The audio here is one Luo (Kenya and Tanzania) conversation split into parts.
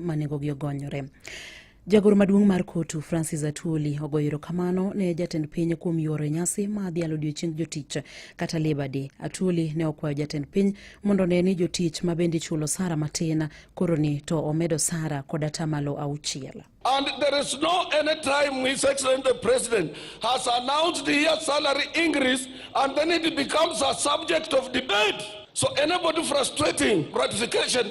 ma nengogi ogonyore. Jagoro maduong' mar kotu Francis Atwoli ogoyo erokamano ne jatend piny kuom yuoro e nyasi ma dhialo odiechieng jotich kata Labour Day. Atwoli ne okwayo jatend piny mondo one ni jotich ma bende ichulo sara matin koro ni to omedo sara kod atamalo auchiel. And there is no any time His Excellency the President has announced here salary increase and then it becomes a subject of debate. So anybody frustrating ratification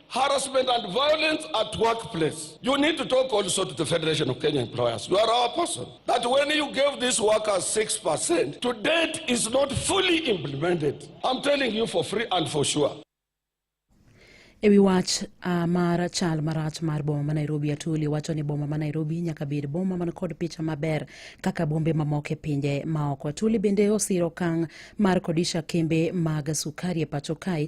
harassment and violence at workplace. You need to talk also to the Federation of Kenya Employers. You are our person. That when you gave these workers 6%, to date is not fully implemented. I'm telling you for free and for sure. E wi wach uh, mar chal marach mar boma ma Nairobi, Atuli wacho ni boma ma Nairobi nyaka bed boma man kod picha maber kaka bombe mamoko e pinje maoko. Atuli bende osiro okang' mar kodisha kembe mag sukari e pacho kae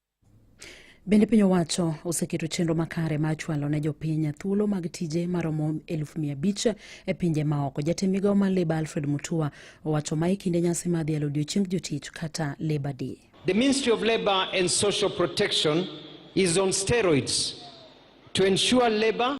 Bende piny owacho oseketo chenro makare mar chwalo ne jopiny thuolo mag tije maromo eluf mia abich e pinje maoko. Jatend migawo mar Labour Alfred Mutua owacho ma e kinde nyasi mar dhialo odiechieng jotich kata Labour Day. The Ministry of Labour and Social Protection is on steroids to ensure labor